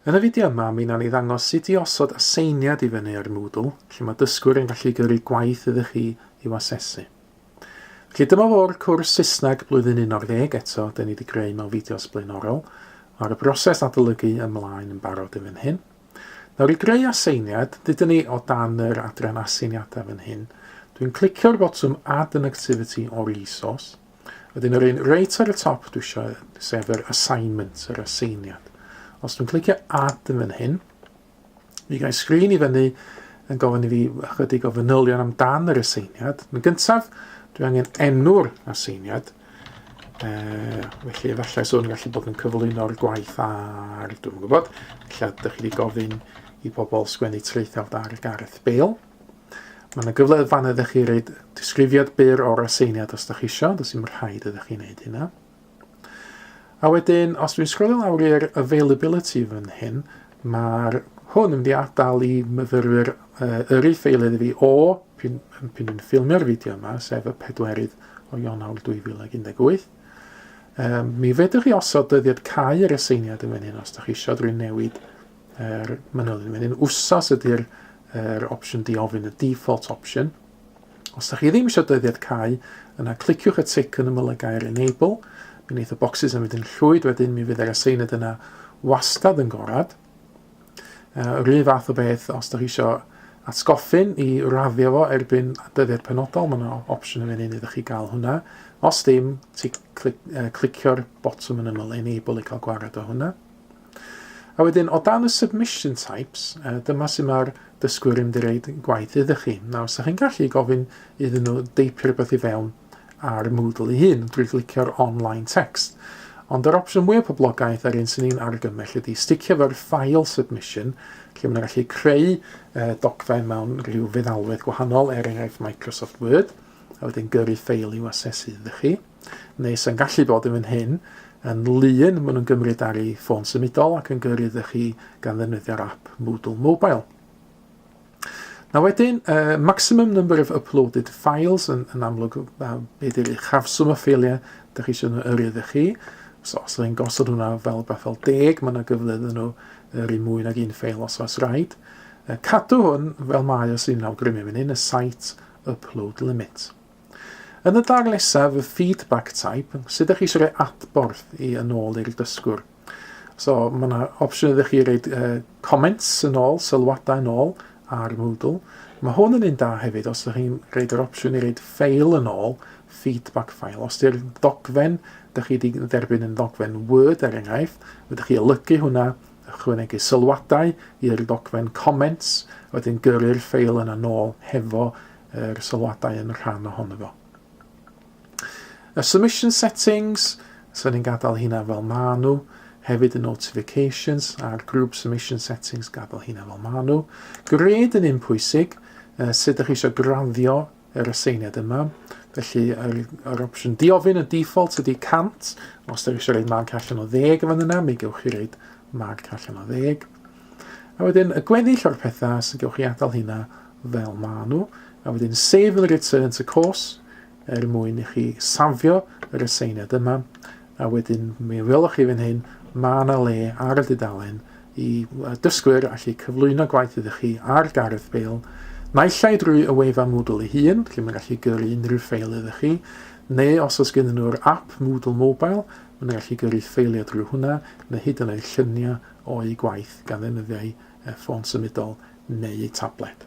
Yn y fideo yma, mi wnawn ni ddangos sut i osod aseiniad i fyny ar Moodle, lle mae dysgwyr yn gallu gyrru gwaith iddo chi i'w asesu. Felly dyma fo'r cwrs Saesneg blwyddyn 11, eto, dyn ni wedi greu mewn fideos blaenorol. Mae'r broses adolygu ymlaen yn barod yn fan hyn. Nawr i greu aseiniad, dydyn ni o dan yr adran aseiniadau fan hyn. Dwi'n clicio'r botwm Add an Activity or Resource. Wedyn yr un reit ar y top dwi eisiau sef yr assignment, yr aseiniad. Os dwi'n clicio add yn fan hyn, mi gael sgrin i fyny yn gofyn i fi ychydig o fanylion amdan yr aseiniad. Yn gyntaf, dwi angen enw'r aseiniad, e, felly efallai swn gallu bod yn cyflwyno'r gwaith ar, dwi'n gwybod, lle ydych chi wedi gofyn i bobl sgwennu traethawd ar Gareth Bale. Mae yna gyfle fan ydych chi reid disgrifiad byr o'r aseiniad os da chi eisiau, does dim rhaid ydych chi'n neud hynna. A wedyn, os dwi'n sgrolio lawr i'r availability fan hyn, mae'r hwn yn mynd i adael i myfyrwyr uh, yrru ffeilydd fi o pyn, pyn dwi'n ffilmio'r fideo yma, sef y pedwerydd o Ionawr 2018. Um, mi fedrwch chi osod dyddiad cau yr aseiniad yn fan hyn os da chi eisiau drwy newid yr manylion wedyn. Wsos ydy'r er opsiwn diofyn, y default option. Os ydych chi ddim eisiau dyddiad cael, yna cliciwch y tic yn ymylygau'r enable. Mi wneud y bocsys yn mynd yn llwyd wedyn, mi fydd yr aseined yna wastad yn gorad. Uh, yr un fath o beth os ydych chi eisiau atgoffin i raddio fo erbyn dyddiad penodol, mae yna opsiwn yn mynd iddo chi gael hwnna. Os dim, ti clic, uh, clicio'r botwm yn ymyl enable i cael gwared o hwnna. A wedyn, o dan y submission types, uh, dyma sy'n mae'r dysgwyr yn dweud gwaith iddo chi. Nawr, sa'ch chi'n gallu gofyn iddyn nhw deipio rhywbeth i fewn ar Moodle ei hun drwy glicio'r online text. Ond yr opsiwn mwyaf poblogaeth a'r un sy'n ni'n argymell ydy sticio fo'r file submission, lle mae'n gallu creu uh, dogfen mewn rhyw feddalwedd gwahanol, er enghraifft Microsoft Word, a wedyn gyrru ffeil i'w asesu iddo chi. neu sy'n gallu bod yn fan hyn, yn lun maen nhw'n gymryd ar ei ffôn symudol ac yn gyrru iddo chi gan ddefnyddio'r app Moodle Mobile. Na wedyn, uh, maximum number of uploaded files yn, yn amlwg uh, be di'r uchafswm o ffeiliau da chi eisiau nhw yrru ydych chi. So, os ydych chi'n gosod hwnna fel beth fel deg, mae yna gyfle iddyn nhw yrru mwy nag un ffeil os oes rhaid. Uh, cadw hwn fel mae os i'n awgrymu fan hyn, y site upload limit. Yn y darn nesaf, y feedback type, sut ydych chi eisiau rhoi adborth i yn ôl i'r dysgwr. So, mae yna opsiwn ydych chi rhaid uh, comments yn ôl, sylwadau yn ôl ar Moodle. Mae hwn yn un da hefyd os ydych chi'n rhaid yr opsiwn i rhaid ffeil yn ôl, feedback file. Os ydy'r ddogfen, ydych chi wedi dderbyn yn ddogfen Word er enghraifft, ydych chi olygu hwnna, ychwanegu sylwadau i'r ddogfen comments, wedyn gyrru'r ffeil yna nôl hefo yr sylwadau yn rhan ohono fo. Y submission settings, so ni'n gadael hynna fel ma nhw, hefyd y notifications a'r group submission settings, gadael hynna fel ma nhw. Gred yn un pwysig, uh, sut ydych chi eisiau graddio yr aseiniad yma. Felly, yr, yr opsiwn diofyn y default ydy 100. Os ydych chi eisiau rhaid marc allan o ddeg yn fan yna, mi gewch chi rhaid marc allan o ddeg. A wedyn y gweddill o'r pethau sy'n gewch chi adael hynna fel maen nhw. A wedyn save and return to course er mwyn i chi safio yr aseiniad yma. A wedyn mi welwch chi fan hyn, mae yna le ar y dudalen i dysgwyr allu cyflwyno gwaith ydych chi ar gardd ffeil, naill ai drwy y wefan Moodle ei hun, lle mae'n gallu gyrru unrhyw ffeil ydych chi, neu os oes gen nhw'r app Moodle Mobile, mae'n gallu gyrru ffeiliau drwy hwnna, neu hyd yn oed lluniau o'u gwaith gan ddefnyddio eu ffôn symudol neu eu tabled.